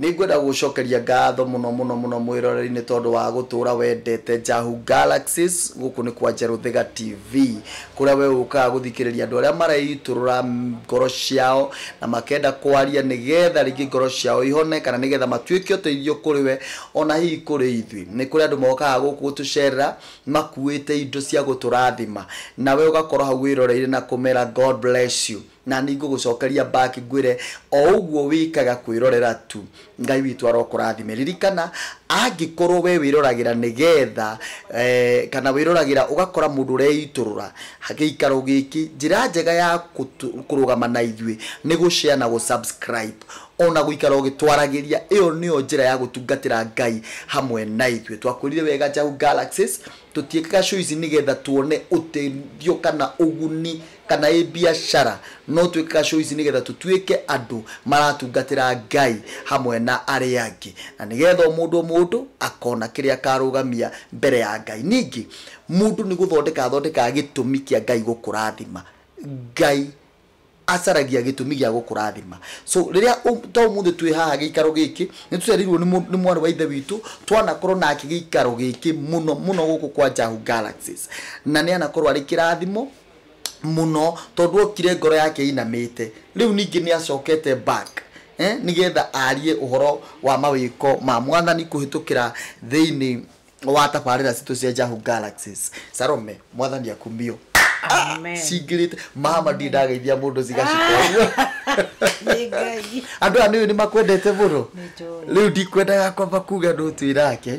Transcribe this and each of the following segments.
Nĩ ngwenda gũgũcokeria ngatho mũno mũno mũno mwĩroreri nĩ tondũ wa gũtũũra wendete Njahu Galaxies. Gũkũ nĩ kwa Njerũ Thĩga TV, kũrĩa wee ũkaga gũthikĩrĩria andũ arĩa mareitũrũra ngoro ciao na makenda kwaria nĩ getha rĩngĩ ngoro ciao ihone kana nĩ getha matuĩke ũteithio kũrĩ we o na hihi kũrĩ ithuĩ. Nĩ kũrĩ andũ mokaga gũkũ gũtũcerera makuĩte indo cia gũtũrathima, na wee ũgakorwo hau wĩroreire na kũmera God bless you. Na nĩngũgũcokeria back ngwĩre o ũguo wĩkaga kwĩrorera tu. Ngai witũ arokũrathime. Ririkana angĩkorwo we wĩroragĩra nĩgetha kana wĩroragĩra ũgakora mũndũ ũreitũrũra gĩikaro gĩkĩ, njĩra njega ya kũrũgama na ithuĩ nĩ gũ share na gũ subscribe ona gũikara ũgĩtwaragĩria. Ĩyo nĩyo njĩra ya gũtungatĩra Ngai hamwe na ithuĩ. Twakwĩrire wega Njahu Galaxies tũtiĩkaga show ici nĩgetha tuone ũteithio kana ũguni kana ĩ mbiacara, no twĩkaga show ici nĩgetha tũtuĩke andũ maratungatĩra Ngai hamwe na arĩa angĩ, na nĩgetha o mũndũ o mũndũ akona kĩrĩa akarũgamia mbere ya Ngai. Ningĩ mũndũ nĩ gũthondeka athondekaga gĩtũmi kĩa Ngai gũkũrathima. Ngai acaragia gĩtũmi gĩa gũkũrathima. So rĩrĩa ũ- ta ũmũthĩ twĩ haha gĩikaro gĩkĩ, nĩ tũcereirwo nĩ mũ- nĩ mwarĩ wa ithe witũ, twanakorwo nake gĩikaro gĩkĩ mũno mũno gũkũ kwa Njahu Galaxies. Na nĩ anakorwo arĩ kĩrathimo mũno tondũ okire ngoro yake inamĩte rĩu ningĩ nĩ acokete back eh, nĩgetha arie ũhoro wa mawĩko ma mwathani kũhĩtũkĩra thĩinĩ wa tabarĩra citũ cia Jahu Galaxies Salome mwathani akumio Amen. cingĩrĩte mama ndirĩ ndageithia mũndũ cigacikwa Nĩ Ngai. andũ aya nĩũĩ nĩ makwendete mũno Nĩnjũĩ. rĩu ndikwendaga kwamba kuga ndũtwĩrake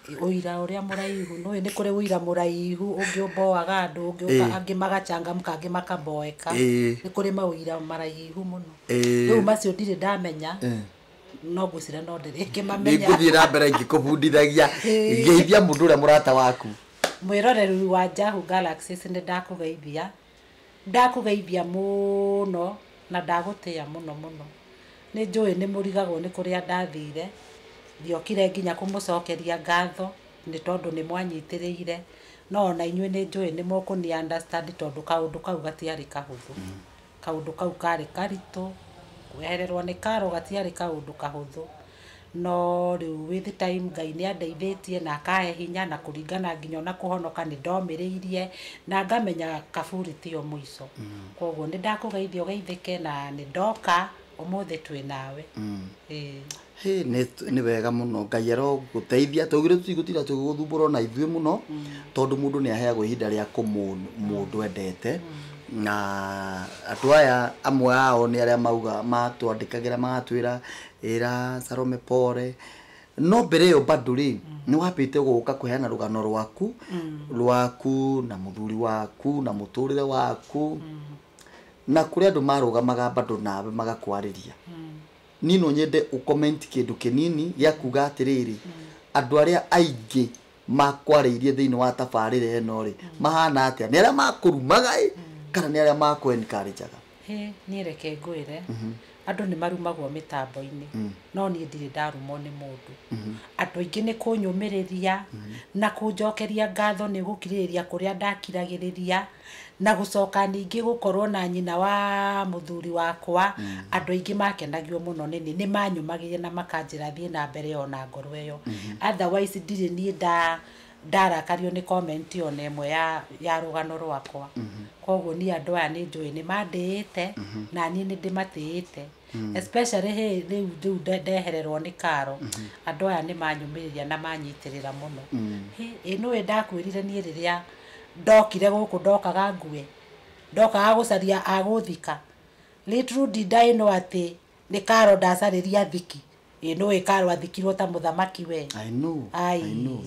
ũira ũrĩa mũraihu nũĩ nĩ kũrĩ ũira mũraihu ũngĩ ũboaga andũ ũngĩ ũka- Ĩĩ. angĩ magachangamka angĩ makaboeka Ĩĩ. nĩ kũrĩ maũira maraihu mũno Ĩĩ. rĩu macio ndirĩ ndamenya no ngwĩcira no ndĩrĩ ngĩmamenya nĩngũthiĩ na mbere ngĩkũbundithagia Ĩĩ. geithia mũndũ ũrĩa mũrata waku mwĩroreru wa Jahu Galaxies nĩ ndakũgeithia Ndakũgeithia mũno na ndagũtĩa mũno mũno. Nĩ njũĩ nĩ mũrigagwo nĩ kũrĩa ndathire, ndiokire nginya kũmũcokeria ngatho nĩ tondũ nĩ mwanyitĩrĩire, no ona inyuĩ nĩ njũĩ nĩ mũkũni understand tondũ kaũndũ kau gatiarĩ kahũthũ. Kaũndũ kau karĩ karitũ, kwehererwo nĩ karo gatiarĩ kaũndũ kahũthũ. No rĩu with time Ngai nĩ andeithĩtie na akahe hinya na kũringana nginya ona kũhonoka nĩ ndomĩrĩirie na ngamenya kaburi tĩo mũico. Koguo nĩ ndakũgeithia ũgeithĩke na nĩ ndoka ũmũthĩ twĩ nawe. Ĩĩ. Hĩ, nĩ nĩ wega mũno ngai arogũteithia twaugire tũtigũtinda tũgĩgũthumbũra ona ithuĩ mũno tondũ mũndũ nĩ aheagwo ihinda rĩa kũmũn mũndũ endete na andũ aya amwe ao nĩ arĩa mauga matwandĩkagĩra magatwĩra Ĩra Salome pole. No mbere ĩyo bado rĩ, nĩ wambĩte gũka kũheana rũgano rwaku, rwaku na mũthuri waku na mũtũrĩre waku. Na kũrĩ andũ marũgamaga bado nawe magakwarĩria. Niĩ no nyende ũ comment kĩndũ kĩnini gĩa kuga atĩrĩrĩ, andũ arĩa aingĩ makwarĩirie thĩinĩ wa tabarĩra ĩno rĩ mahana atĩa nĩ arĩa makũrumaga ĩ kana nĩ arĩa makũ encourageaga Hĩ, niĩ reke ngwĩre andũ nĩ marumagwo mĩtambo-inĩ no niĩ ndirĩ ndarumwo nĩ mũndũ andũ aingĩ nĩ kũnyũmĩrĩria na kũnjokeria ngatho nĩ gũkirĩrĩria kũrĩa ndakiragĩrĩria Na gũcoka ningĩ gũkorũo na nyina wa mũthuri wakwa, andũ aingĩ maakenagio mũno nĩ niĩ. Nĩ maanyũmagĩrire na makanjĩra thiĩ na mbere o na ngoro ĩyo. Otherwise ndirĩ niĩ ndarakario nĩ comment o na ĩmwe ya rũgano rwakwa. Kwoguo niĩ andũ aya nĩ njũĩ nĩ mandĩĩte, na niĩ nĩ ndĩmatĩĩte. Mm. especially hey, rĩu rĩu nde- ndehererwo nĩ karo andũ aya nĩ manyũmĩrĩria na manyitĩrĩra mũno Mm. Hey, ĩ nũĩ ndakwĩrire niĩ rĩrĩa ndokire gũkũ ndokaga ngue ndokaga gũcaria agũthika little did I know atĩ nĩ karo ndacarĩria thiki Ĩĩ nũĩ Karo athikirwo ta mũthamaki we? I know, Ai. I know.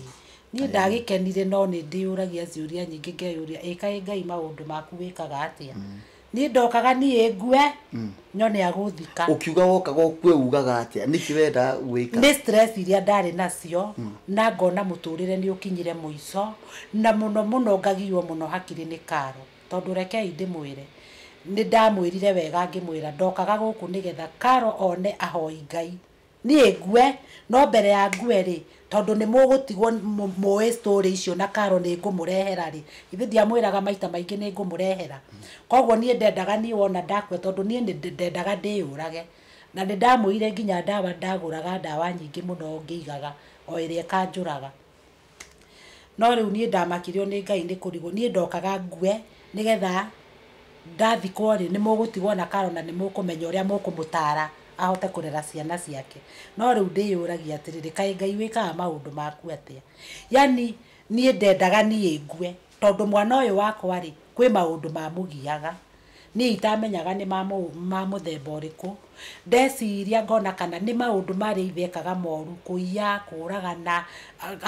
Niĩ ndagĩkenire no nĩ ndĩyũragia ciũria nyingĩ ngeyũria ĩ kaĩ Ngai maũndũ maku wĩkaga atĩa? Niĩ ndokaga niĩ ngue nyone agũthika. Ũkiuga wokaga ũkue ugaga atĩa? Nĩkĩ wendaga gwĩka? Nĩ stress iria ndarĩ nacio na ngona mũtũrĩre nĩ ũkinyire mũico na mũno mũno ngagiywo mũno hakiri nĩ Karo. Tondũ rekei ndĩmwĩre, nĩ ndamwĩrire wega ngĩmwĩra ndokaga gũkũ nĩ getha Carol one ahoi Ngai, niĩ ngue, no mbere ya ngue-rĩ, tondũ nĩ mũgũtigwo mũĩ story icio na Carol nĩ ngũmũrehera-rĩ, githĩ ndiamwĩraga maita maingĩ nĩ ngũmũrehera? Kwoguo niĩ ndendaga niĩ wona ndakua tondũ niĩ ndendaga ndĩyũrage. Na nĩ ndamũire nginya ndawa, ndagũraga ndawa nyingĩ mũno ngĩigaga o ĩrĩa ĩkanjũraga. No rĩu niĩ ndamakirio nĩ Ngai nĩ kũrigwo. Niĩ ndokaga ngue nĩgetha ndathikwo rĩ, nĩ mũgũtigwo na karo na nĩ mũkũmenya ũrĩa mũkũmũtara ahote kũrera ciana ciake. No rĩu ndĩyũragia atĩrĩrĩ, kaĩ Ngai wĩkaga maũndũ maku atĩa? Yaani niĩ ndendaga niĩ ngue. Tondũ mwana ũyũ wakwa-rĩ, kwĩ maũndũ mamũgiaga, niĩ itamenyaga nĩ ma ma mũthemba ũrĩkũ, ndeciria ngona kana nĩ maũndũ ma arĩa a ithe ekaga moru, kũiya, kũragana,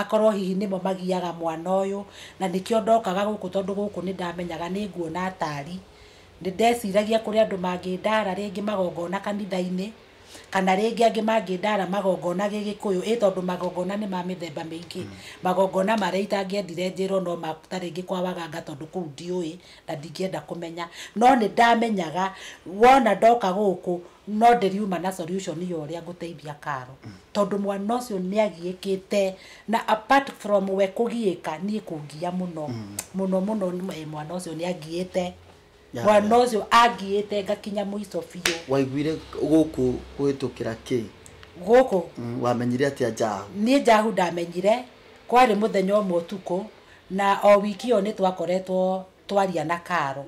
akorwo hihi nĩmo magiaga mwana ũyũ, na nĩkĩo ndokaga gũkũ tondũ gũkũ nĩ ndamenyaga nĩ nguona atari. Nĩ ndeciragia kũrĩ andũ mangĩndara rĩngĩ magongona kanitha-inĩ, Kana rĩngĩ angĩ mangĩndara magongona gĩgĩkũyũ, ĩ tondũ magongona nĩ ma mĩthemba mĩingĩ. Magongona marĩa itangĩendire njĩrwo no ma ta rĩngĩ kwa waganga tondũ kũu ndiũĩ, na ndingĩenda kũmenya. No nĩ ndamenyaga wona ndoka gũkũ, no ndĩriuma na solution ya ũrĩa ngũteithia Carol. Tondũ mwana ũcio nĩ agiĩkĩte, na apart from we kũgiĩka, niĩ kũngia mũno. Mũno mũno mwana ũcio nĩ agiĩte. mwana ũcio angiĩte ngakinya mũico biũ waiguire gũkũ kũhĩtũkĩra kĩ gũkũ Mm, wamenyire atĩa njahu niĩ njahu ndamenyire kwarĩ mũthenya ũmwe ũtukũ na o wiki ĩyo nĩ twakoretwo twaria na karo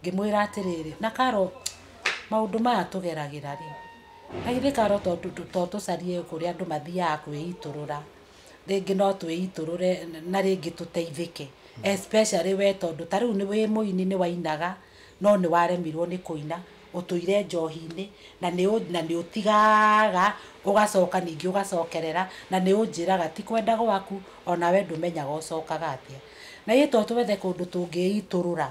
ngĩmwĩra atĩrĩrĩ na karo maũndũ maya tũgeragĩra rĩ na githĩ karo to tũ- tũ- to tũcarie kũrĩa andũ mathiaga kwĩitũrũra rĩngĩ no twĩitũrũre na rĩngĩ tũteithĩke especially we tondũ ta rĩu nĩ wĩ mũini nĩ wainaga no nĩ waremirwo nĩ kũina ũtũire njohi-inĩ na nĩ ũ- na nĩ ũtigaga ũgacoka ningĩ ũgacokerera na nĩ ũnjĩraga ti kwenda gwaku ona we ndũmenyaga ũcokaga atĩa na ithuĩ to twethe kũndũ tũngĩitũrũra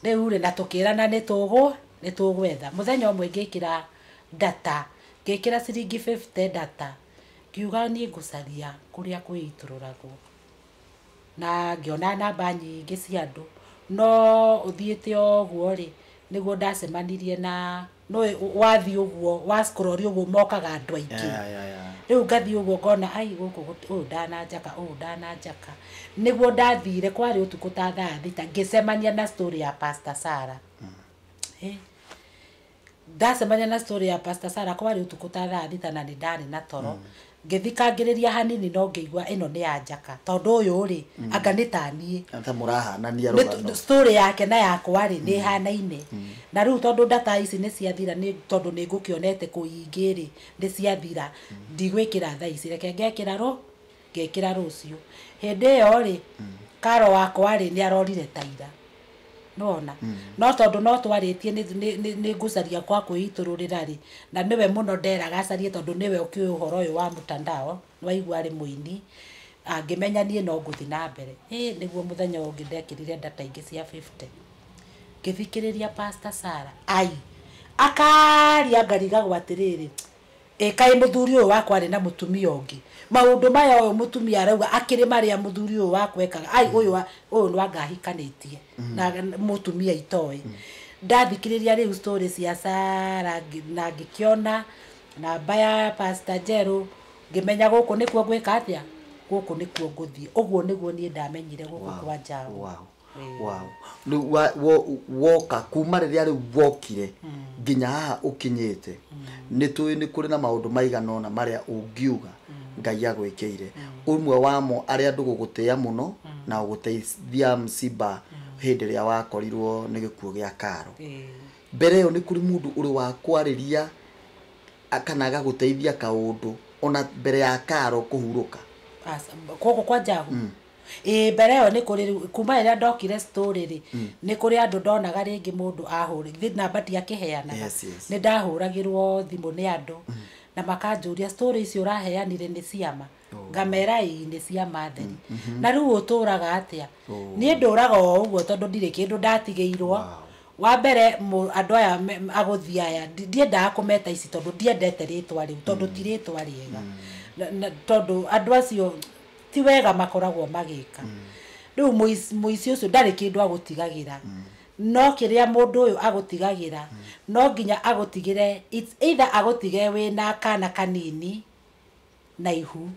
rĩu rĩ na tũkĩrana nĩ tũgũ nĩ tũgwetha mũthenya ũmwe ngĩkĩra data ngĩkĩra ciringi 50 data Ngiuga niĩ ngũcaria kũrĩa kwĩitũrũragwo, na ngĩona namba nyingĩ cia andũ, no ũthiĩte ũguo rĩ, nĩguo ndacemanirie na, nĩ ũĩ wathiĩ ũguo wa scroll ũguo mokaga andũ aingĩ, rĩu ngathiĩ ũguo ngona aii gũkũ gũti ũyũ ndananjaka ũyũ ndananjaka, nĩguo ndathire kwarĩ ũtukũ ta thaa thita ngĩcemania na story ya pastor Sarah, hĩ. Ndacemania na story ya pastor Sarah kwarĩ ũtukũ ta thaa thita na nĩndarĩ na toro ngĩthikangĩrĩria hanini no ngĩigua ĩno nĩ ya Njaka tondũ ũyũ rĩ anga nĩ ta niĩ Anta mũrahanania Nĩ- rũgano. story yake na yakwa rĩ nĩ hanaine na rĩu tondũ ndata ici nĩ ciathira nĩ tondũ nĩ ngũkĩonete kũingĩ rĩ nĩ ciathira ndigwĩkĩra thaa ici reke ngekĩra rũ Ngekĩra rũciũ. Hĩndĩ ĩyo-rĩ, Carol wakwa-rĩ, nĩarorire ta ira. Nĩwona? No tondũ no twarĩtie nĩ, nĩ, nĩ, nĩngũcaria gwa kwĩitũrũrĩra-rĩ, na nĩwe mũno nderaga acarie tondũ nĩwe ũkĩũĩ ũhoro ũyũ wa mtandao, nĩwaigua arĩ mũini, angĩmenya niĩ no ngũthiĩ na mbere. Hĩ, nĩguo mũthenya ũyũ ũngĩ ndekĩrire ndata ingĩ cia fifty. Ngĩthikĩrĩria Pastor Sarah. Ai! Akaaria ngarigagwo atĩrĩrĩ, Ĩ kaĩ mũthuri ũyũ wakwa arĩ na mũtumia ũngĩ? Maũndũ maya ũyũ mũtumia arauga akĩrĩ marĩa mũthuri ũyũ wakwa ekaga. Ai, ũyũ a- ũyũ nĩ anga ahikanĩtie na mũtumia itoĩ. Ndathikĩrĩria rĩu story cia Sarah ngĩ- na ngĩkĩona namba ya Pastor Njerũ, ngĩmenya gũkũ nĩkuo ngwĩka atĩa? Gũkũ nĩkuo ngũthiĩ. Ũguo nĩguo niĩ ndamenyire gũkũ kwa Njaũ. Wow, wow. wow. Rĩu wa- wo- woka kuma rĩrĩa rĩu wokire nginya haha ũkinyĩte nĩ tũĩ nĩ kũrĩ na maũndũ maigana ona marĩa ũngiuga ngai agwĩkĩire ũmwe wamo arĩa andũ gũgũtĩa mũno na ũgũteithia msiba hĩndĩ ĩrĩa wakorirwo nĩ gĩkuũ gĩa karo Eh, mbere ĩyo nĩ kũrĩ mũndũ ũrĩ wa kwarĩria a- kana agagũteithia kaũndũ ona mbere ya karo kũhurũka aca- koko kwa njagu ĩĩ mbere ĩyo nĩ kũrĩ rĩu kuma rĩrĩa ndokire story rĩ nĩ kũrĩ andũ ndonaga rĩngĩ mũndũ ahũrĩ githĩ namba ndiakĩheanaga Yes, yes. nĩ ndahũragĩrwo thimũ nĩ andũ na makanjũria story icio ũraheanire nĩ ciama ngamera ĩĩ nĩ ciama theri na rĩu ũtũraga atĩa niĩ ndũraga o ũguo tondũ ndirĩ kĩndũ ndatigĩirwo wa mbere mũ- andũ aya me- agũthi aya ndi- ndiendaga kũmeta ici tondũ ndiendete rĩtwa rĩu tondũ ti rĩtwa rĩega Na- na- tondũ andũ acio ti wega makoragwo magĩka rĩu mũici mũici ũcio ndarĩ kĩndũ agũtigagĩra no kĩrĩa mũndũ ũyũ agũtigagĩra no nginya agũtigĩre it's either agũtige wĩna kana kanini na ihu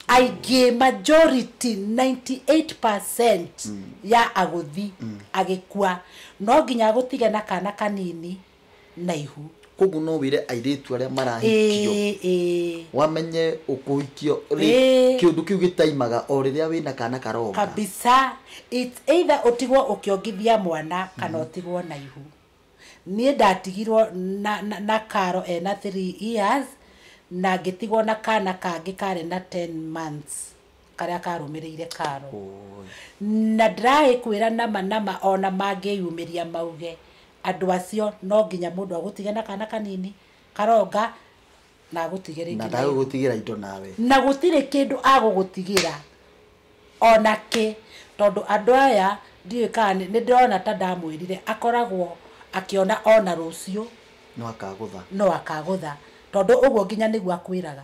aingĩ majority 98% ya agũthi agĩkua no nginya agũtige na kana kanini na ihu koguo no wĩre airĩtu arĩa marahikio Ĩĩ, ĩĩ. wamenye ũkũhikio Ĩĩ. kĩũndũ kĩu gĩtaimaga o rĩrĩa wĩna kana karoka kabisa It's either ũtigwo ũkĩongithia mwana kana ũtigwo na ihu niĩ ndatigirwo na, na, na karo ena 3 years na ngĩtigwo na kana kangĩ karĩ na 10 months karĩa karũmĩrĩire karo Oi. na ndĩraĩkwĩra nama nama ona mangĩyumĩria mauge Andũ acio no nginya mũndũ agũtige na kana kanini, karonga, na agũtige rĩngĩ na nayo. ndagũgũtigĩra indo nawe Na gũtirĩ kĩndũ agũgũtigĩra o na kĩ, tondũ andũ aya ndiũĩ kana nĩ nĩ ndĩrona ta ndamwĩrire akoragwo akĩona o na rũciũ no akagũtha no akagũtha, tondũ ũguo nginya nĩguo akwĩraga.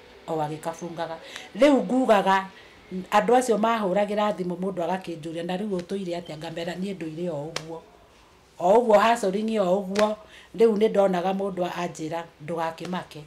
o agĩkabungaga. Rĩu ngugaga andũ acio mahũragĩra thimũ mũndũ agakĩnjũria na rĩu ũtũire atĩa ngamera niĩ ndũire o ũguo, o ũguo hustling o ũguo, rĩu nĩ ndonaga mũndũ anjĩra ndũgakĩmake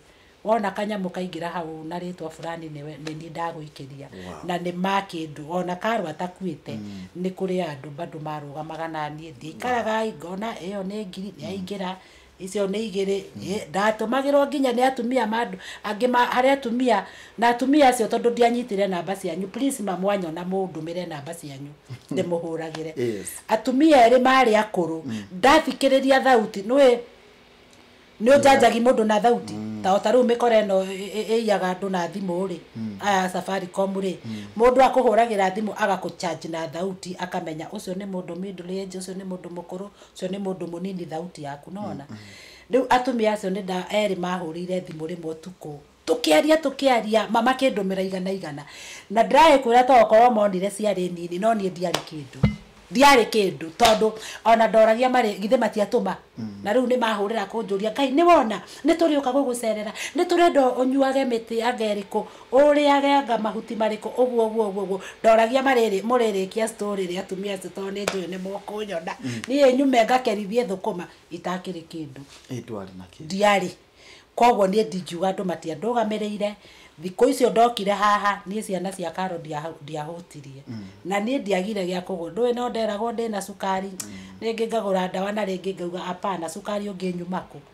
wona kanyamũ kaingĩra hau na rĩtwa fulani nĩ niĩ ndagũikĩria na nĩ ma kĩndũ ona karwa takuĩte nĩ kũrĩ andũ bado marũgamaga na niĩ ndikaraga ngona ĩyo nĩ ngiri yaingĩra icio nĩ igĩrĩ Ĩ, ndatũmagĩrwo nginya nĩ atumia ma andũ- angĩ ma- harĩ atumia na atumia acio tondũ ndianyitire namba cianyu please ma mwanyona mũndũmĩre namba cianyu ndĩmũhũragĩre Yes. atumia erĩ marĩ akũrũ ndathikĩrĩria thauti nĩwĩ nĩ ũnjanjagi mũndũ na thauti ta ota rĩu mĩkora ĩno ĩ- ĩ- ĩiyaga andũ na thimũ rĩ aya safaricom rĩ mũndũ akũhũragĩra thimũ agakũchanji na thauti akamenya ũcio nĩ mũndũ middle age ũcio nĩ mũndũ mũkũrũ ũcio nĩ mũndũ mũnini thauti yaku nona rĩu atumia acio nĩ nda erĩ mahũrĩire thimũ rĩmwe ũtukũ tũkĩaria tũkĩaria mama kĩndũmĩra igana igana na ndĩraĩ kwĩra to okorwo monire ciarĩ nini no niĩ ndiarĩ kĩndũ ndiarĩ kĩndũ tondũ ona ndoragia marĩ githĩ matiatũma na rĩu nĩ mahũrĩra kũnjũria ngai nĩ wona nĩ tũrĩũka gũgũcerera nĩ tũrenda ũnyuage mĩtĩ ya ngerikũ Ũrĩarenga mahuti marĩkũ ũguo ũguo ũguo ũguo ndoragia marĩrĩ mũrĩrĩkia story rĩ atumia acio tondũ nĩ njũĩ nĩ mũkũnyona niĩ nyume ngakerithie thũkũma itakĩrĩ kĩndũ Ĩ ndwarĩ na kĩndũ. ndiarĩ koguo niĩ ndingiuga andũ matiandũgamĩrĩire thikũ icio ndokire haha niĩ ciana cia karo ndia- ndiahũtirie na niĩ ndiagire gĩa kũgũra ndũĩ no nderagwo ndĩna cukari rĩngĩ ngagũra ndawa na rĩngĩ ngauga apana cukari ũngĩnyuma kũ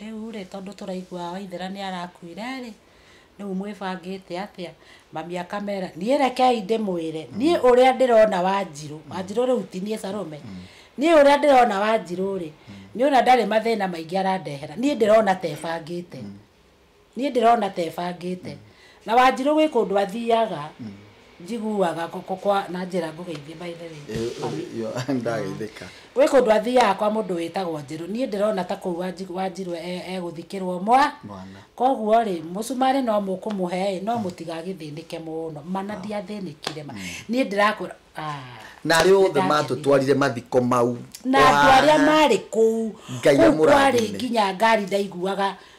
Rĩu rĩ, tondũ tũraigua Waithera nĩ arakuire rĩ, rĩu mwĩbangĩte atĩa? Mami akamera, niĩ rekei ndĩmwĩre, niĩ ũrĩa ndĩrona Wanjirũ, Wanjirũ rĩu ti niĩ Salome, niĩ ũrĩa ndĩrona Wanjirũ rĩ, nĩ ũrĩa ndarĩ mathĩna maingĩ arandehera, niĩ ndĩrona ta ebangĩte. Niĩ ndĩrona ta ebangĩte. Na Wanjirũ gwĩ kũndũ athiaga njiguaga kwa- kwa- kwa na njĩra ngũgeithie by the way. Yo, ndageithĩka. Gwĩ kũndũ athiaga kwa mũndũ wĩtagwo Njerũ. Niĩ ndĩrona ta kũu Wanji- Wanjirũ e- egũthikĩrwo mwa. Mwana. Koguo-rĩ, mũcumarĩ no mũkũmũhe-ĩ, no mũtigagĩthĩnĩke mũno. Ma na ndiathĩnĩkire ma. Niĩ ndĩrakũra, ah. Na arĩa othe Nĩndakenire. matũtwarire mathiko mau. na andå arä a Wa- marä kå u Ngai kå u kwarä amũrathime. nginya ngari ndaiguaga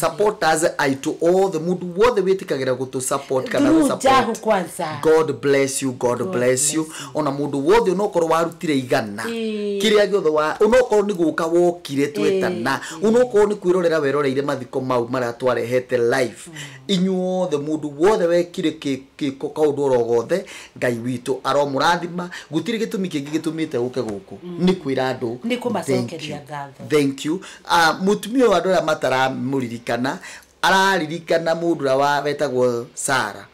support us i to all the mundu wothe wĩtĩkagĩra gũtũ support kana Through gũ Jahu support kwanza. god bless you god, God bless you bless ona mũndũ wothe onokorwo warutire igana Ĩĩ. kĩrĩa gĩothe wa onokorwo nĩ gũka wokire twetana onokorwo nĩ kwĩrorera weroreire mathiko mau marĩa twarehete life inyuothe mũndũ wothe wekire kĩ- Gĩko kaũndũ oro gothe Ngai witũ aromũrathima gũtirĩ gĩtũmi kĩngĩ gĩtũmĩte ũke gũkũ nĩ kwĩra andũ Nĩ kũmacokeria thank you. ngatho. Thank you. Ah, mũtumia ũyũ andũ arĩa mataramũririkana araririkana mũndũ ũrĩa wa- wetagwo Sara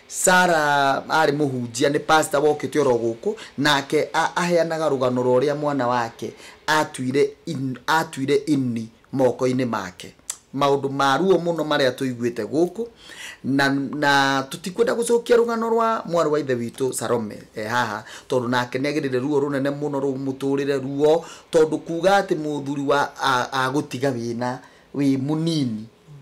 Sara arĩ mũhunjia nĩ pasta wokĩte oro gũkũ nake a- aheanaga rũgano rwa ũrĩa mwana wake atuire in- atuire ini moko-inĩ make. Maũndũ ma ruo mũno marĩa tũiguĩte gũkũ, na, na tũtikwenda gũcokia rũgano rwa mwarĩ wa Ithe witũ Salome e haha, tondũ nake nĩ agereire ruo rũnene mũno rũu mũtũrĩre, ruo tondũ kuuga atĩ mũthuri wa, a, agũtiga wĩna, wĩ mũnini,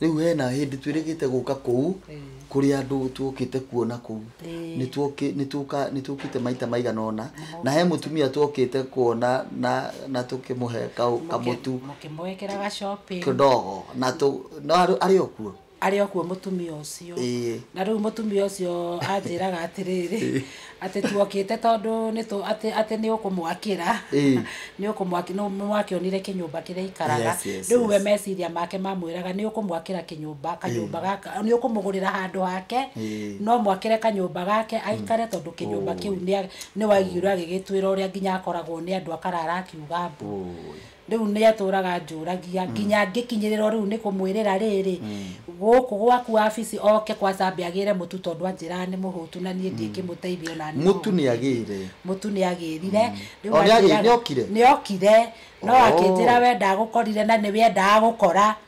Rĩu hena hĩndĩ twĩrĩgĩte gũka kũu kũrĩ andũ twokĩte kuona kũu nĩtũkĩte maita maigana ona na he mũtumia twokĩte kuona na tũkĩmũhe kamũtu kidogo na arĩ o kuo arĩ o kuo mũtumia ũcio na rĩu mũtumia ũcio anjĩraga atĩrĩrĩ atĩ tuokĩte tondũ nĩtũ atĩ atĩ nĩ ũkũmwakĩra Ĩĩ. nĩ ũkũmwaki nĩ mwakĩonire kĩnyũmba kĩrĩa ikaraga Yes, yes, rĩu we yes. meciria make mamwĩraga nĩ ũkũmwakĩra kĩnyũmba kanyũmba gaka nĩ ũkũmũgũrĩra handũ hake Ĩĩ. no mwakĩre kanyũmba gake aikare tondũ kĩnyũmba kĩu nĩa- nĩ waiguire agĩgĩtwĩra ũrĩa nginya akoragwo nĩ andũ akarara akiuga mbu Ũĩ. Rĩu nĩatũũraga anjũũragia, nginya ngĩkinyĩrĩrwo rĩu nĩ kũmwĩrĩra rĩrĩ, Gũũkũ gwaku wabici oke kwa Chambĩ agĩĩre Mũtu tondũ anjĩraga nĩ mũhũũtu na niĩ ndingĩmũteithia o na niĩ Mũtu nĩ agĩĩre? Mũtu nĩ agĩĩrire. Rĩu O nĩ agĩĩrire, anjĩraga- nĩ okire? Nĩ okire, no akĩnjĩra we ndagũkorire na nĩwe endaga gũkora.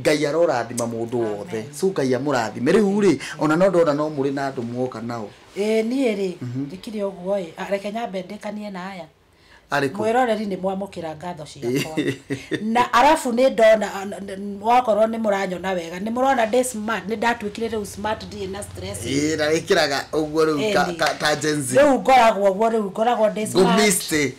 Ngai arorathima mũndũ wothe. Amen. So Ngai amũrathime. Rĩu rĩ, ona no ndona no mũrĩ na andũ mwoka nao. Ĩĩ niĩ rĩ ndĩkire ũguo ĩ Ah, reke nyambe ndĩkanie na aya Arĩ kũ? mwĩroreri nĩ mwamũkĩra ngatho ciakwa na arabu nĩ ndona ah, n- n- wakorwo nĩ mũranyona wega nĩ mũrona ndĩ smart nĩ ndatuĩkire rĩu smart ndirĩ na stress Ĩĩ, na wĩkĩraga ũguo rĩu ka- Ĩni. ka- ka Gen Z. rĩu ngoragwo guo rĩu ngoragwo ndĩ smart. Ngũmĩste.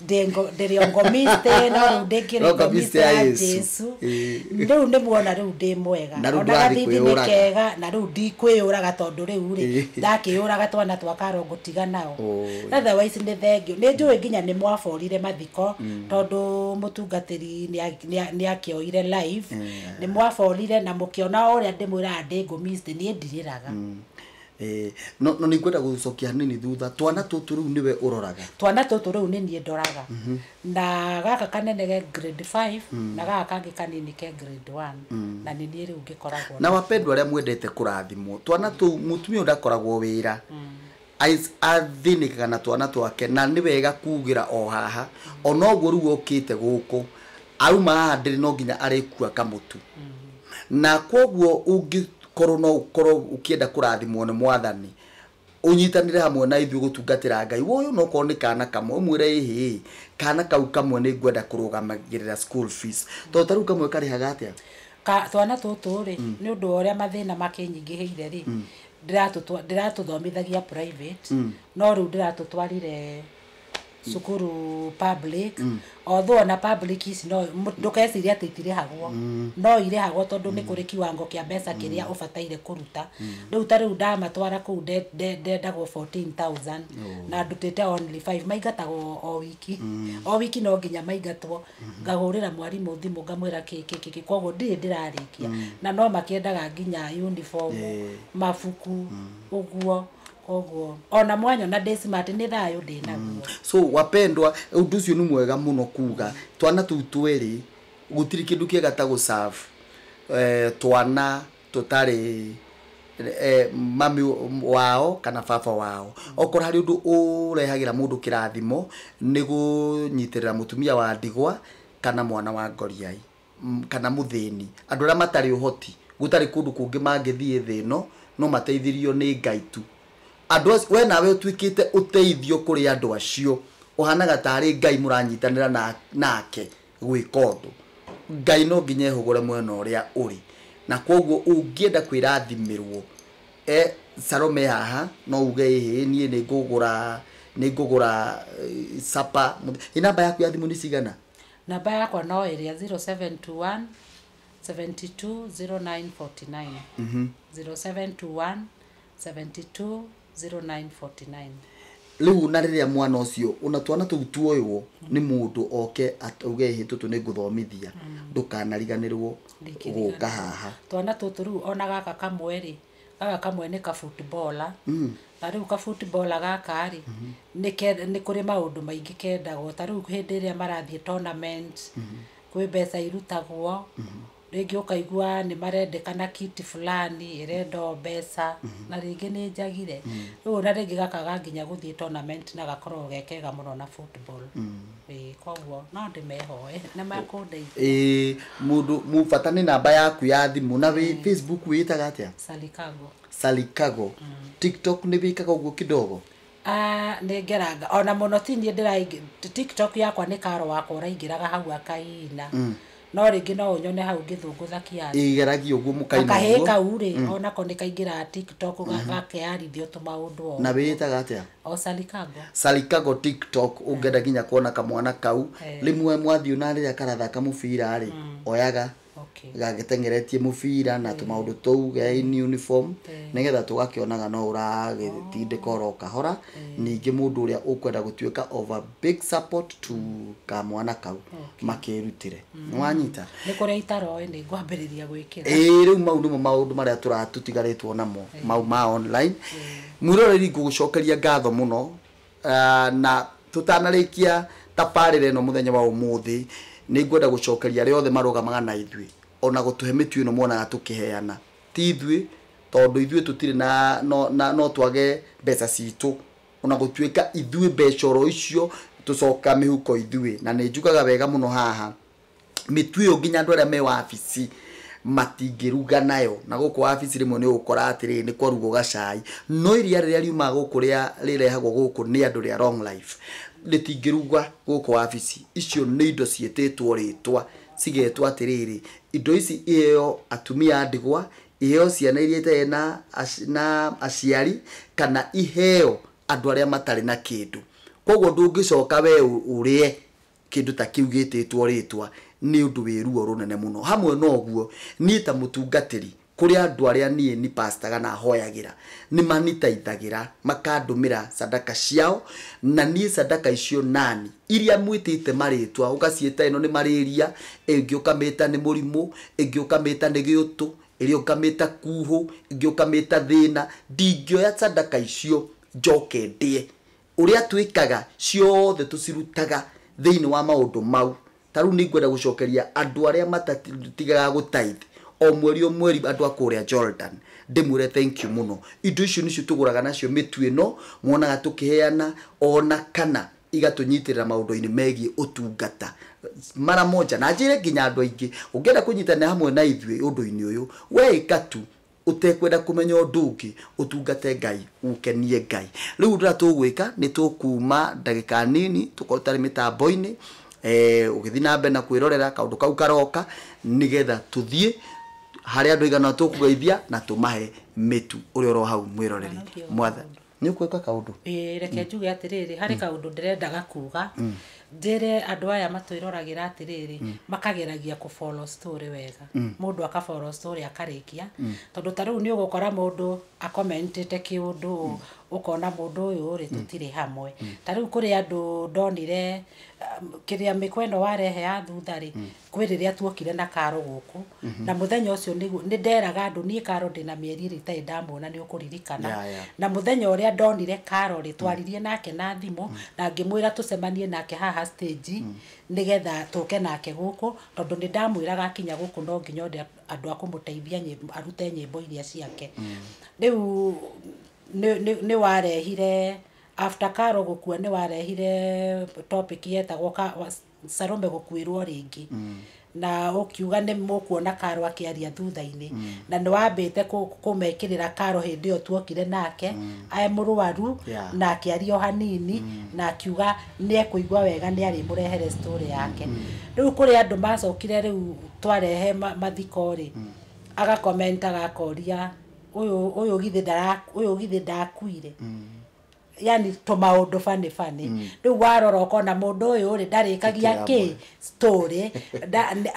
ndĩngo- ndĩrĩ ongomiste no rĩu ndĩngĩ Ongomiste ongomiste ya ya Yesu. jesu Ĩĩ. rĩu nĩ muona rĩu ndĩ mwega Na rĩu ona ndũrathiĩ gathithi nĩ kwĩyũraga. kega na rĩu ndikwĩyũraga tondũ rĩu rĩ Ĩĩ. ndakĩyũraga twana twa karongo tiga nao Oi. otherwise nĩ thengio nĩ njũĩ nginya nĩ mwaborire mathiko tondũ mũtungatĩri nĩa- nĩa- nĩakĩoire live nĩ mwaborire na mũkĩona o ũrĩa ndĩmwĩraga ndĩ ngũmiste niĩ ndirĩraga Eh, no no nĩngwenda gũcokia hanini thutha twana tũtũ rĩu nĩwe ũroraga twana tũtũ rĩu nĩ niĩ ndoraga na gaka kanene ge grade 5 na gaka kangĩ kanini ke grade 1 na nĩ niĩ rĩu ngĩkoragwo na wapendwa arĩa mwendete kũrathimwo twana tũu mũtumia ũyũ ndakoragwo wĩra Ais- athĩnĩkaga na twana twake na nĩ wega kuugĩra o haha ona ũguo rĩu okĩte gũkũ Auma haha ndĩrĩ no nginya arĩkua kamũtu. Na kwoguo ũngĩkorwo no ũkorwo ũkĩenda kũrathimwo nĩ mwathani, ũnyitanĩre hamwe na ithuĩ gũtungatĩra Ngai, woe ona okorwo nĩ kana kamwe, ũmwĩre ĩhĩ ĩ, kana kau kamwe nĩ ngwenda kũrũgamagĩrĩra school fees. Tondũ ta rĩu kamwe karĩhaga atĩa? Ka, twana tũtũ rĩ, nĩ ũndũ wa ũrĩa mathĩna makĩnyingĩhĩire rĩ, ndĩratũtwa, ndĩratũthomithagia private, no rĩu ndĩratũtwarire cukuru public although ona public ici no mũ- ndũkeciria atĩ itirĩhagwo no irĩhagwo tondũ nĩ kũrĩ kiwango kĩa mbeca kĩrĩa ũbataire kũruta rĩu ta rĩu ndamatwara kũu nde- nde- ndendagwo 14000 na ndutĩte only 5 maingatagwo o wiki o wiki no nginya maingatwo ngahũrĩra mwarimũ thimũ ngamwĩra kĩ kĩ kĩ kĩ koguo ndirĩ ndĩrarĩkia na no makĩendaga nginya uniform mabuku ũguo koguo ona mwanyona ndĩ smart nĩ thayũ ndĩ naguo so wapendwa undu ucio ni mwega muno kuga twana tuu tweri gutiri kindu kiega ta gu serve eh, twana tutari eh, mami wao kana baba wao okora hari undu urehagira mundu kirathimo ni gunyitirira mutumia wa ndigwa kana mwana wa ngoriai mm, kana mũthĩni, andũ arĩa matarĩ ũhoti, gũtarĩ kũndũ kũngĩ mangĩthiĩ thĩ ĩno, no mateithirio nĩ Ngai tu. Andũ acio, we nawe ũtuĩkĩte ũteithio kũrĩ andũ acio, ũhanaga tarĩ Ngai mũranyitanĩra na- nake gwĩka ũndũ. Ngai no nginya ehũgũre mwena ũrĩa ũrĩ, na kwoguo ũngĩenda kwĩrathimĩrwo, eh, Salome e haha no uge ĩhĩ niĩ nĩ ngũgũra nĩ ngũgũra eh, supper mũth- ĩ namba yaku ya thimũ nĩ cigana Namba yakwa no ĩrĩa 0721 720949 0721 720949 rĩu na rĩrĩa mwana ũcio ona twana tũu tuoywo nĩ mũndũ oke atauge ĩhĩ tũtũ nĩ ngũthomithia ndũkanariganĩrwo gũka haha twana tũtũ rĩu ona gaka kamwe rĩ Gaka kamwe nĩ ka footballer, ta rĩu ka footballer gaka rĩ, nĩ ke, nĩ kũrĩ maũndũ maingĩ kendagwo. Ta rĩu hĩndĩ ĩrĩa marathiĩ tournament, kwĩ mbeca irutagwo, rĩngĩ ũkaigua nĩ marendekana kit fulani, ĩrendwo mbeca, na rĩngĩ nĩ njagire. Rĩu ona rĩngĩ gaka ga nginya gũthiĩ tournament na gakoragwo ge kega mũno na football. Ĩĩ koguo no ndĩmehoe nĩ mekũndeithia. Ĩĩ mũndũ mũ- bata nĩ namba yaku ya thimũ na wĩ facebook wĩĩtaga atĩa Salikago. salikago tiktok nĩ wĩkaga ũguo kidogo Ah, nĩ ngeranga ona mũno ti niĩ ndĩraingĩ tiktok yakwa nĩ karo wakwa ũraingĩraga hau akaina No rĩngĩ no ũnyone hau ngĩthũngũtha kĩaru. Ĩĩ geragia ũguo mũkaina ũguo. Kahĩĩ kau rĩ onako nĩ kaingĩraga tiktok gakearithio tũmaũndũ o. Na wĩĩtaga atĩa? O Salikago. Salikago tiktok ũngĩenda nginya kuona kamwana kau. Rĩmwe mwathiĩ ona rĩrĩa karathaka mũbira rĩ oyaga gagĩteng'eretie mũbira na tũmaũndũ tũu ge in uniform nĩgetha tũgakĩonaga no ũragĩtindĩka oro kahora. Ningĩ mũndũ ũrĩa ũkwenda gũtuĩka of a... big support to kamwana kau makĩrutĩre nĩwanyita nä kå rä a itaroä nä ngwambä rä ria gwä kä ra ĩĩ rĩu mau nĩmo maũndũ marĩa tũratũtigarĩtwo namo mau ma online mwĩroreri ngũgũcokeria ngatho mũno Ah, na tũtanarĩkia tabarĩra ĩno mũthenya wa ũmũthĩ nĩ ngwenda gũcokeria arĩa othe marũgamaga na ithuĩ ona gũtũhe mĩtu ĩno monaga tũkĩheana ti ithuĩ tondũ ithuĩ tũtirĩ na no, na, no twage mbeca citũ O na gũtuĩka ithuĩ mbeca oro icio tũcokaga mĩhuko ithuĩ, na nĩ njugaga wega mũno haha, mĩtu ĩyo nginya andũ arĩa me wabici matingĩruga nayo, na gũkũ wabici rĩmwe nĩ ũgũkora atĩrĩrĩ, nĩ kũrugwo gacai, no iria rĩrĩa riumaga gũkũ rĩa rĩrehagwo gũkũ nĩ andũ rĩa Long Life, rĩtingĩrugwo gũkũ wabici, icio nĩ indo ciĩtĩtwo rĩtwa, cigetwo atĩrĩrĩ, indo ici iheo atumia a ndigwa, Iheo ciana iria itarĩ na na aciari kana iheo andũ arĩa matarĩ na kĩndũ. Kwoguo ndũngĩcoka we ũrĩe kĩndũ ta kĩu gĩtĩtwo rĩtwa nĩ ũndũ wĩ ruo rũnene mũno. Hamwe na ũguo, niĩ ta mũtungatĩri kũrĩ andũ arĩa niĩ ni pastor kana hoyagĩra, nĩ manitaithagĩra makandũmĩra sadaka ciao, na niĩ sadaka icio nani iria mwĩtĩte marĩtwa, ũgaciĩta ĩno nĩ marĩria, ĩyo ĩngĩ ũkamĩta nĩ mũrimũ, ĩngĩ ũkamĩta nĩ gĩũtũ, ĩrĩa ĩngĩ ũkamĩta kuhũ, ĩngĩ ũkamĩta thĩna, ndingĩoya sadaka icio njoke ndĩe. Ũrĩa twĩkaga, ciothe tũcirutaga thĩinĩ wa maũndũ mau. Ta rĩu nĩ ngwenda gũcokeria andũ arĩa matatigaga gũ tithe, o mweri o mweri andũ a kũrĩa Jordan, ndĩmwĩre thank you mũno. Indo icio nĩcio tũgũraga nacio mĩtu ĩno mwonaga tũkĩheana, o na kana igatũnyitĩrĩra maũndũ-inĩ megiĩ ũtungata mara moja na njĩre nginya andũ aingĩ. Ũngĩenda kũnyitanĩra hamwe na ithuĩ ũndũ-inĩ ũyũ, wee ĩka tu ũtekwenda kũmenya ũndũ ũngĩ, ũtungate Ngai, ũkenie Ngai. Rĩu ũndũ ũrĩa tũgwĩka, nĩ tũkuuma ndagĩka nini, tũkorwo tũtarĩ mĩtambo-inĩ, ũgĩthiĩ na mbere na kwĩrorera kaũndũ kau karoka, nĩgetha tũthiĩ harĩ andũ aigana ũna tũkũgeithia na tũmahe mĩtu. Ũrĩa oro hau mwĩroreri. Mwathani. nĩ ũkwĩka kaũndũ Ĩĩ, reke njuge atĩrĩrĩ harĩ kaũndũ ndĩrendaga kuga njĩre andũ aya matwĩroragĩra atĩrĩrĩ makageragia kũ follow story wega mũndũ aka follow story akarĩkia tondũ ta rĩu nĩ ũgũkora mũndũ akomentĩte kĩũndũ ũũ, ũkona mũndũ ũyũ rĩ tũtirĩ hamwe ta rĩu kũrĩ andũ ndonire um, kĩrĩa mĩkwa ĩno warehe ya thutha rĩ kwĩ rĩrĩa tuokire na karo gũkũ na mũthenya ũcio nĩguo nĩ nderaga andũ niĩ karo ndĩ na mĩeri ĩrĩ itarĩ ndamuona nĩ ũkũririkana Ya, ya. na mũthenya ũrĩa ndonire karo rĩ twaririe nake na thimũ na ngĩmwĩra tũcemanie nake haha stage nĩgetha tũke nake gũkũ tondũ nĩ ndamwĩraga akinya gũkũ no nginya ode andũ a kũmũteithia nyĩmbo- arute nyĩmbo iria ciake rĩu nĩ- nĩ nĩ warehire after karo gũkua nĩ warehire topic yetagwo ka- was- Salome gũkuĩrwo rĩngĩ na ũkiuga nĩ mũkuona karo akĩaria thutha-inĩ na nĩ wambĩte kũ- kũmekĩrĩra karo hĩndĩ ĩyo tuokire nake e mũrwaru Yeah. na akĩaria o hanini na akiuga nĩ ekũigua wega nĩ arĩmũrehere story yake rĩu kũrĩ andũ macokire rĩu twarehe ma- mathiko rĩ agakomenta gakoria ũyũ ũyũ githĩ ndara- ũyũ githĩ ndakuire yani tũmaũndũ bani bani mm. rĩu warora ũkona mũndũ ũyũ rĩ ndarĩkagia kĩ story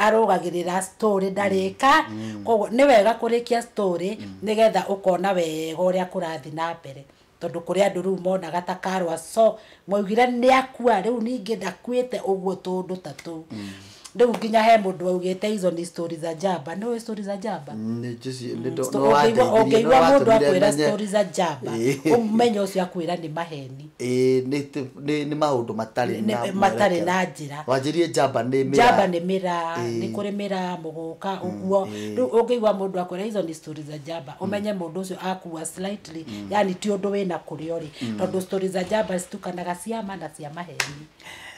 arũgagĩrĩra story ndarĩka mm. mm. koguo nĩ wega kũrĩkia story mm. nĩgetha ũkona wega ũrĩa kũrathiĩ na mbere tondũ kũrĩ andũ rĩu monaga ta karwa so mwaugire nĩ akua rĩu ningĩ ndakuĩte ũguo tũndũ ta tũu mm. rĩu nginya he mũndũ waugĩte hizo ni story za jamba nĩ ũĩ story za jamba Nĩ njĩci- nĩ ndo- Sto- no ũngĩigua- wandeithirie, ũngĩigua no mũndũ watũmire akwĩra menye. story za jamba Ĩĩ. ũmenye ũcio akwĩra nĩ maheni Ĩĩ, nĩ tĩ- nĩ- nĩ maũndũ matarĩ Nĩ- na matarĩ mwerekera. na njĩra. wanjĩrie jamba nĩ mĩraa. jamba nĩ mĩraa Ĩĩ. nĩ kũrĩ mĩraa mũgũka ũguo ĩĩ. rĩu ũngĩigua mũndũ akwĩra hizo ni story za jamba ũmenye mũndũ ũcio akua slightly yani ti ũndũ wĩna kũrĩa ũrĩ tondũ story za jamba citukanaga ciama na cia maheni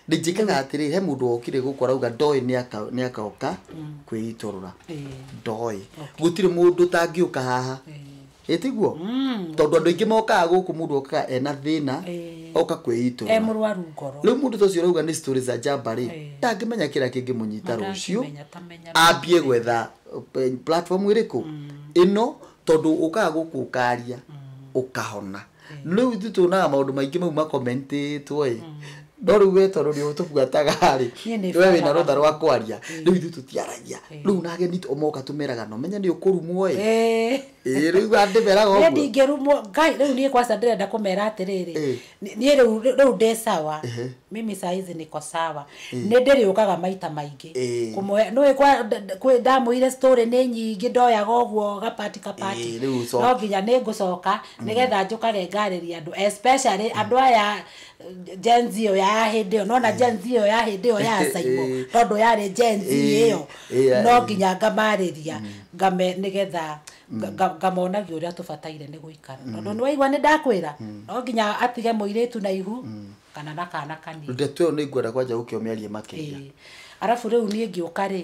ndinjĩkaga atĩrĩ he mũndũ wokire gũkũ arauga ndoĩ nĩaka- nĩakaoka kwĩitũrũra ndoĩ gũtirĩ mũndũ tangĩũka haha ĩtiguo tondũ andũ aingĩ mokaga gũkũ mũndũ okaga ena thĩna Eh. oka e kwĩitũrũra mũrwaru ngoro rĩu mũndũ ta ũcio ũrauga nĩ story za njamba rĩ Eh. ndangĩmenya kĩrĩa kĩngĩmũnyita rũciũ Matangĩmenya, tamenya, ambie gwetha eh, platform ĩrĩkũ ĩno tondũ ũkaga gũkũ ũkaria ũkahona rĩu ithuĩ tuonaga maũndũ maingĩ mau makomentĩtwo ĩ no rĩu we tondũ nĩ ũtũbuataga rĩ Niĩ nĩ we wĩna banaga. rũtha rwa kwaria rĩu ithuĩ tũtiaragia rĩu na ageni t- moka tũmeraga no menye nĩ ũkũrumwo ĩ Eh. Ĩ, rĩu andĩmeraga Niĩ ũguo ndingĩrumwo ngai rĩu niĩ kwanza ndĩrenda kũmera atĩrĩrĩ Eh. ni- niĩ rĩu rĩu ndĩ sawa mimi saizi niko sawa nĩ ndĩrĩũkaga maita maingĩ Eh. kũmwe nĩ kwa d- d- kwĩ- ndamũire story nĩ nyingĩ ndoyaga ũguo gapati kapati Eh, rĩu ũcoke. no nginya nĩ ngũcoka nigetha njukage ngarĩria andũ especially andũ aya Gen Z ĩyo ya hĩndĩ ĩyo nona Gen Z ĩyo ya hĩndĩ ĩyo ya Saimo Eh. tondũ yarĩ Gen Z Eh, ĩyo eh, ya- no nginya ngamarĩria ngame nigetha nga- nga- ngamonagia ũrĩa tũbataire nĩ gũikara tondũ nĩ waigua nĩ ndakwĩra no nginya atige mũirĩtu na ihu kana na kana kanini ndeto ĩyo nĩ ngwenda kwanja gũkĩomĩaria makĩria Ĩĩ. arabu rĩu niĩ ngĩũka rĩ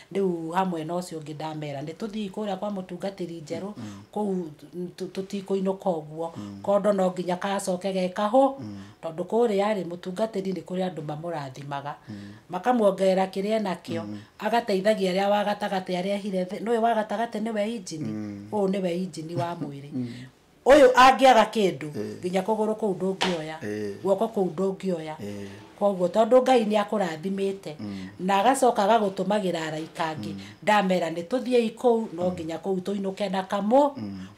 Rĩu hamwe na ũcio ũngĩ ndamera nĩ tũthii kũrĩa kwa mũtungatĩri njerũ kũu tũ- tũtikũinũka ũguo kondo no nginya kacoke ge kahũ tondũ kũrĩa rĩ mũtungatĩri nĩ kũrĩ andũ mamũrathimaga makamuongerera kĩrĩa enakĩo agateithagia arĩa wa gatagatĩ arĩa ehire thĩ nĩũĩ wa gatagatĩ nĩwe injini ũyũ nĩwe injini wa mwĩrĩ Ũyũ angĩaga kĩndũ, nginya kũgũrũ kũu ndũngĩoya, guoko kũu ndũngĩoya. Kwoguo tondũ Ngai nĩ akũrathimĩte, na agacoka agagũtũmagĩra araika angĩ, ndamera nĩ tũthiĩi kũu, no nginya kũu tũinũke na kamũ,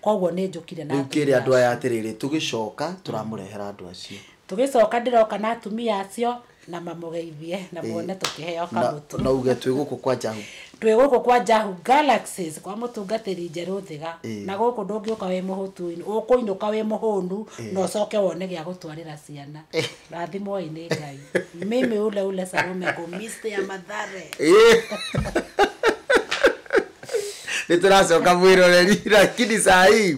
kwoguo nĩ njũkire na atumia acio. Rĩu kĩĩre andũ aya atĩrĩrĩ, tũgĩcoka tũramũrehera andũ acio. Tũgĩcoka ndĩroka na atumia acio, na mamũgeithie na muone tũkĩheo na kamũtu na uge twĩ gũkũ kwa njahu twĩ gũkũ kwa njahu galaxies kwa mũtungatĩri njerũ thĩga Ĩĩ. na gũkũ ndũngĩũka wĩ mũhũtu ũkũinũka wĩ mũhũnu na ũcoke wone gĩa gũtwarĩra ciana rathimoi nĩ ngai mimi ule ule sarome kumiste ya mathare nä tå racoka mwä roreri lakini saa hii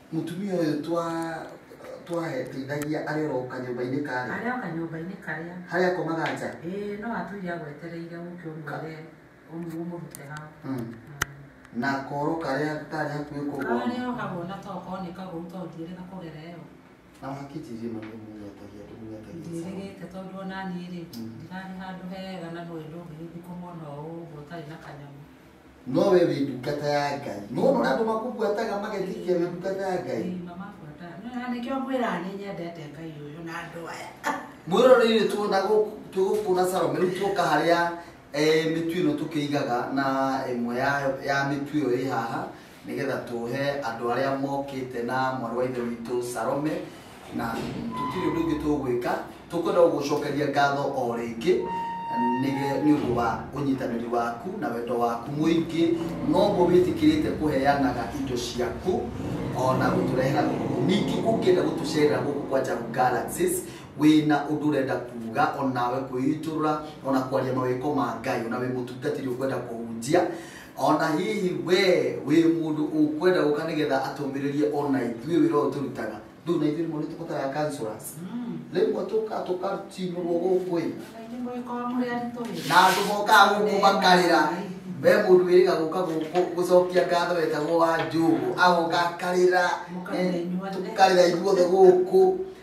Mũtumia ũyũ twa twaheteithagia arĩ oro kanyũmba-inĩ karĩa arĩa oka nyũmba-inĩ karĩa harĩa akomaga nja ĩĩ no atũire agwetereire ũke ũmwĩre ũmũ- ũmũrute hau Mm. na koro karĩa karĩ hakuhĩ kũgwa karĩa ohagwo na tokorwo nĩ kagũru to ndiĩrĩga kũgera ĩyo na wakĩnjirie maũndũ mũnyetagia mũnyetagia ndiĩrĩgĩte tondũ ona niĩ rĩ Mm. ndirarĩ handũ hega na nũĩ ndũngĩgĩthiĩ kũmwona o ũguo ũtarĩ na kanyamũ no we wĩ ndungata ya ngai nĩwona ũrĩa andũ makũbuataga magetikia wĩ ndungata ya ngai nĩkĩo ngwĩra nĩ nyendete ngai ũyũ na andũ aya mwĩroreire tuona twĩ gũkũ na salome rĩu tuoka harĩa eh, mĩtu ĩno tũkĩigaga na ĩmwe ya- ya mĩtu ĩyo ĩ haha nĩgetha tũhe andũ arĩa mokĩte na mwarĩ wa ithe witũ Salome na tũtirĩ ũndũ ũngĩ tũgwĩka tũkwenda gũgũcokeria ngatho o rĩngĩ nĩge- nĩ ũndũ wa ũnyitanĩri waku na wendo waku mũingĩ noguo wĩtĩkĩrĩte kũheanaga indo ciaku ona gũtũrehera gũkũ ningĩ ũngĩenda gũtũcerera gũkũ kwa Jagu Galaxies wĩna ũndũ ũrenda kuga onawe kwĩitũrũra ona kwaria mawĩko ma Ngai ona wĩ mũtungatĩri ũkwenda kũhunjia ona hihi we wĩ mũndũ ũkwenda gũka nĩgetha atũmĩrĩrie ona ithuĩ wĩra ũyũ tũrutaga rĩu na ithuĩ rĩmwe nĩtũbataraga counselors rĩmwe tũka tũkacinũrwo gũkũ ĩ na andũ mokaga gũkũ makarĩra we mũndũ wĩrĩga gũka gũkũ gũcokia ngatho wetagwo wa njũgũ agoka akarĩra eh, tũkarĩra ithuothe gũkũ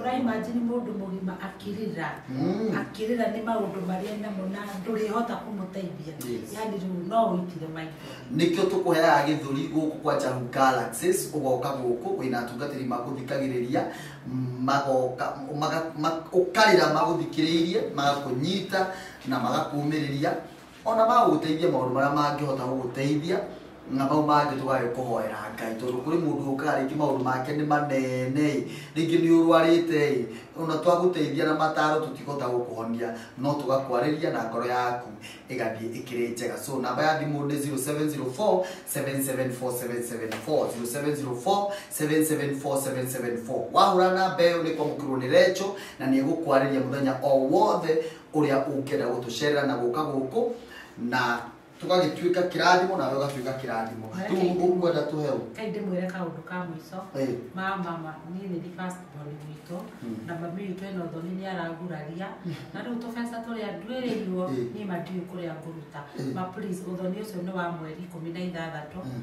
ũraimajini mũndũ mũgima akĩrĩra Mm. akĩrĩra nĩ maũndũ marĩa namo na ndũrĩhota kũmũteithia Yes. yani rĩu no ũitire maitho nĩkĩo tũkũheaga gĩthũri gũkũ kwa Jahu Galaxies ũgoka gũkũ wĩna atungatĩri magũthikagĩrĩria magoka maga- ma- ũkarĩra magũthikĩrĩirie magakũnyita na magakũmĩrĩria ona magũgũteithia maũndũ marĩa mangĩhota gũgũteithia na mau mangĩ tũgage kũhoera ngai tondũ kũrĩ mũndũ ũkaga rĩngĩ maũndũ make nĩ manene ĩ rĩngĩ nĩ ũrwarĩte ĩ ona twagũteithia na mataro tũtikũhota gũkũhonia no tũgakwarĩria na ngoro yaku ĩgathiĩ ĩkĩrĩ njega so namba ya thimũ nĩ 0704 774774 0704 774774 wahũra namba ĩyo nĩ kwamũkĩrwo nĩ recho na nĩ ĩgũkwarĩria mũthenya o wothe ũrĩa ũngĩenda gũtũcerera na gũka gũkũ na tũgagĩtuĩka kĩrathimo nawe ũgatuĩka kĩrathimo rĩu ũkwenda tũhe ũ kai ndĩmwĩre kaũndũ ka mũico Eh. ma mama niĩ nĩ first born witũ Mm. na mami witũ ena ũthoni nĩ araguraria na rĩu tũbeca tũrĩa nduĩrĩirwo Eh. niĩ mandiũĩ kũrĩa ngũruta Eh. ma please ũthoni ũcio nĩ wa mweri ikũmi na ithathatũ Mm.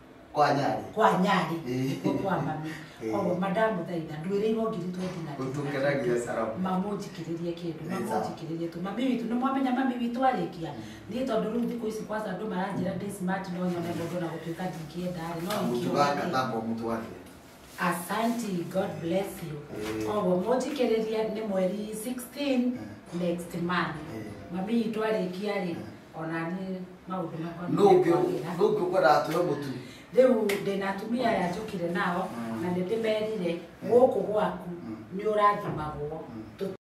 kwa nyari kwa nyari Eh. ko kwa mami Eh. koguo madamu thaitha ndwĩrĩirwo ngiri twendi na Ũtũkenagia Saramu. mamũnjikĩrĩrie kĩndũ Nĩ sawa. mamũnjikĩrĩrie tu mami witũ nĩ mwamenya mami witũ arĩkia niĩ tondũ rĩu thikũ ici kwanza andũ maranjĩra ndĩ smart no nyone mũndũ na gũtuĩka ndingĩenda rĩ no mũtu ingĩũra gaka rĩ. thamba mũtu wake Asanti, God bless you. Eh. Koguo mũthikĩrĩria nĩ mweri 16 next month. Eh. Mami itũ arĩkia rĩ, ona niĩ maũndũ makwa nũ ũngĩ nĩmekwagĩra. nũ ũngĩ ũkwenda atũhe mũtu Rĩu ndĩna atumia aya njũkire nao Mm. na nĩ ndĩmerire gũkũ gwaku Mm. nĩ ũrathimagwo. Mm. Tũ-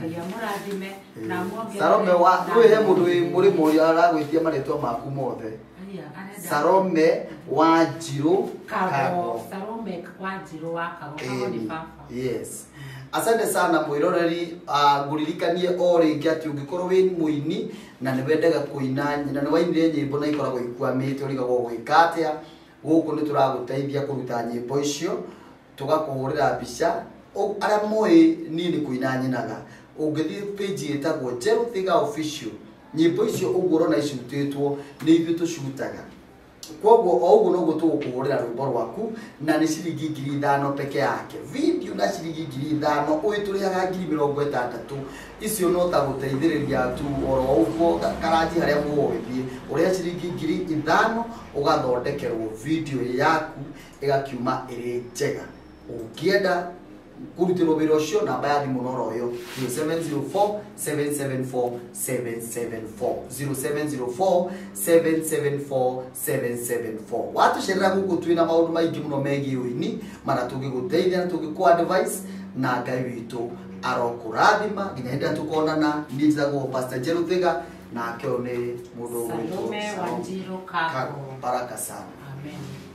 Ngai amũrathime na amwongerere Salome wa na- kwĩ he mũndũ wĩ mũrĩmo ũrĩa aragwĩtia marĩtwa maku mothe Aria, arenda- Salome wa njirũ Kago, kago Salome wa Njirũ wa Kago, Kago ni Ĩni, baba. yes asante sana mwiroreri uh, nguririkanie o rĩngĩ atĩ ũngĩkorwo wĩ mũini na nĩ wendaga kũina na nĩ wainire nyĩmbo na ikoragwo ikuamĩte ũrigagwo gwĩka atĩa gũkũ nĩ tũragũteithia kũruta nyĩmbo icio tũgakũhũrĩra mbica Ũ- arĩa mũĩ niĩ nĩ kũina nyinaga ũngĩthiĩ page ĩtagwo njerũ thiga official nyĩmbo icio ũguo ũrona icutĩtwo nĩ ithuĩ tũcutaga kwoguo o ũguo noguo tũgũkũhũrĩra rwĩmbo rwaku na nĩ ciringi ngiri ithano peke yake video na ciringi ngiri ithano ũgĩtũrĩhaga ngiri mĩrongo ĩtandatũ icio no ta gũteithĩrĩria tu oro ũguo ka- karanji harĩa mũgũgĩthiĩ ũrĩa ciringi ngiri ithano ũgathondekerwo video yaku ĩgakiuma ĩrĩ njega ũngĩenda kũrutĩrwo wĩra ũcio namba ya thimũ noro ũyũ 0704 774 774 0704 774 774 watũcerera gũkũ twĩ na maũndũ maingĩ mũno megiĩ ũini mana tũngĩgũteithia na tũngĩkũ advice na ngai witũ arokũrathima nginya hĩndĩ ĩrĩa tũkonana niĩ njĩtagwo pastor njerũ thiga nake ũyũ nĩ mũndũ ũgwĩtwo Salome Salome Wanjiru Kago. Kago. baraka sana Amen.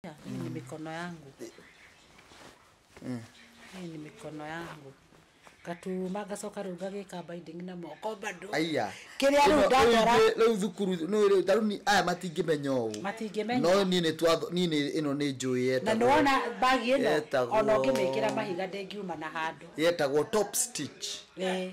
Hii ni mikono yangu. Hii ni mikono yangu. Katuma gacoka rĩu gagĩka binding na moko bado. aya Kĩrĩa rĩu Ĩno- ndakora. rĩu- rĩu thukuru no rĩu tarĩu ni- aya matingĩmenya ũũ Matingĩmenya. no niĩ nĩ twatho niĩ nĩ ĩno nĩ njũĩ Na nĩ wona yetagwo bagi ĩno Yetagwo- ona ũngĩmĩkĩra mahiga ndĩngiuma na handũ. yetagwo top stitch Eh,